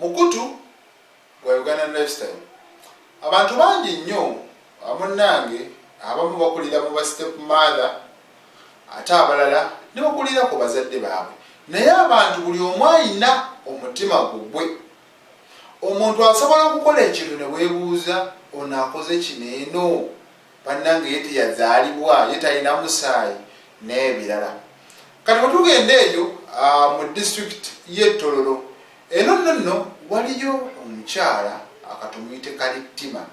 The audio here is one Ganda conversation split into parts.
mukutu gwa uganda lifestyle abantu bangi nnyo amunnange abamu bakulira mu ba step mother ate abalala ne bakulira ku bazadde baabwe naye abantu buli omu ayina omutima gugwe omuntu asobola okukola ekintu ne weebuuza ono akoze kino eno bannange ye teyazaalibwa ye talina musaayi n'ebirala kati wetugenda eyo ah, mu district ye tololo eno nno nno waliyo omukyala akatumuyite kalittima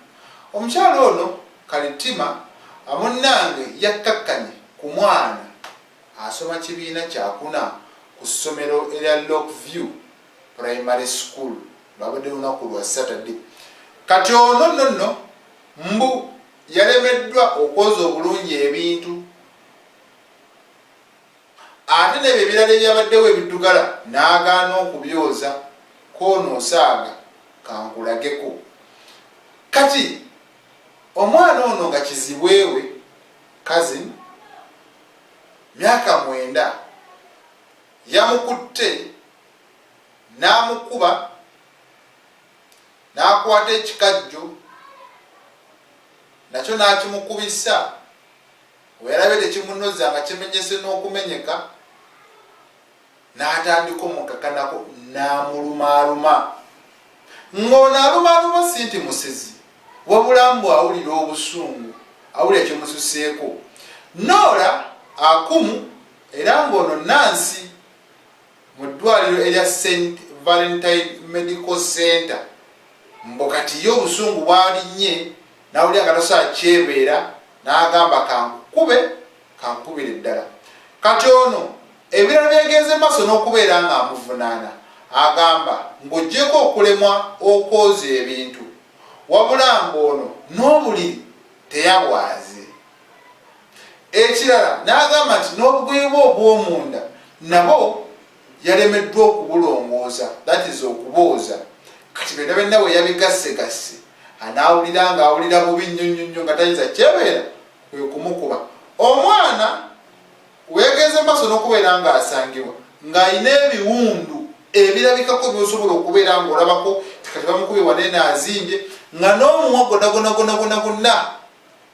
omukyala ono kalittima ah, munnange yakkakkanye ku mwana asoma kibiina kyakuna ku ssomero erya lock view primary school babadde lunaku lwa saturday kati ono nno nno Mbu yalemeddwa okwoza obulungi ebintu ate nebyo ebirala ebyabaddewo ebiddugala n'agaana okubyoza koono osaaga kankulageko kati omwana ono nga kizibwewe kazin myaka mwenda yamukutte n'amukuba n'akwata ekikajjo nakyo n'akimukubisa we yalabye tekimunoza nga kimenyese n'okumenyeka n'atandika omukakanako n'amulumaaluma ng'ono alumaaluma si nti musezi wabula mbu awulira obusungu awulira kimususeeko noola akumu era ng'ono nansi mu ddwaliro erya Saint Valentine Medical Center mbu kati ye obusungu bwalinnye n'awulira nga tasobola kyebeera n'agamba kankukube kankukubire ddala kati ono ebirala byegenze maaso n'okubeera ng'amuvunaana agamba ng'ogyeko okulemwa okwoza ebintu wabula ng'ono n'obuliri teyabwaze Ekirala n'agamba nti n'obugoye bwe obw'omunda nabo yalemeddwa okubulongoosa that is okubooza kati byonna byonna we yabigassegasse anaawulira ng'awulira bubi nnyo nnyo nnyo nga tayinza kyebeera kwe kumukuba omwana weegenze mu maaso n'okubeera ng'asangibwa ng'alina ebiwundu ebirabikako byosobola okubeera ng'olabako kati bamukubye waneena azimbye nga n'omuwa gonagonagonagonagonna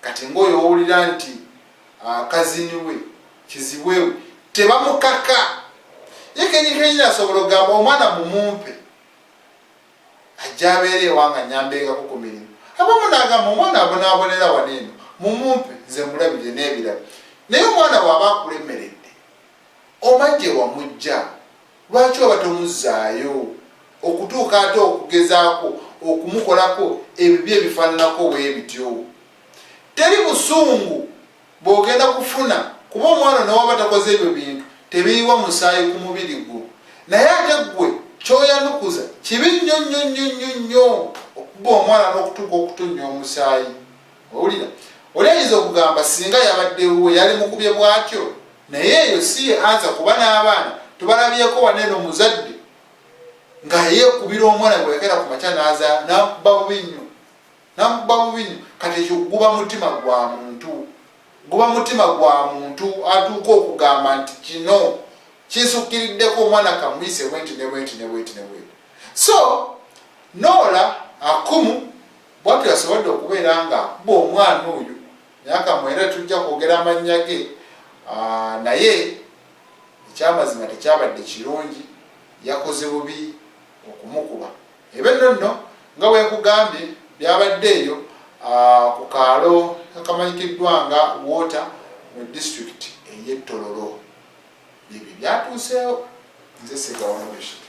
kati ngaoyo owulira nti ah, kaziniwe kizibwewe tebamukaka ye kenyikenyi asobola ogamba omwana mumumpe ajja abeera ewanga nyambengako ku mirimu abamu nagamba omwana abonabonera wano eno mumumpe nze mulabire n'ebirala naye omwana waaba akulemeredde omaje wamujja Lwaki oba tomuzzaayo okutuuka ate okugezaako okumukolako ebibi ebifaananako bwe bityo? Teri busungu bw'ogenda kufuna kuba omwana newaba takoze ebyo bintu tebiyiwa musaayi ku mubiri gwo, naye ate ggwe ky'oyanukuza kibi nnyo nnyo nnyo nnyo nnyo okuba omwana n'okutuuka okutonnya omusaayi. owulira oli ayinza okugamba singa yabadde wuwe yali mukubye bwatyo naye eyo si ye anza kuba n'abaana tubalabyeko wane no muzadde nga yeekubira omwana gwe yagera ku makya n'aza nakuba bubi nnyo nakuba bubi nnyo kati ekyo guba mutima gwa muntu guba mutima gwa muntu atuuka okugamba nti kino kinsukiriddeko omwana kamuyise bwenti ne bwenti ne bwenti ne bwenti so noola akumu Bwatyo yasobodde okubeera nga akuba omwana oyo myaka mwenda tetujja kwogera amannya ge naye ekyamazima tekyabadde kirungi yakoze bubi okumukuba ebe nno nno nga bwenkugambye byabadde eyo ku kaalo akamanyikiddwa nga water mu disitulikiti ey'ettololo byebyo byatuuseewo nze segawamubeshike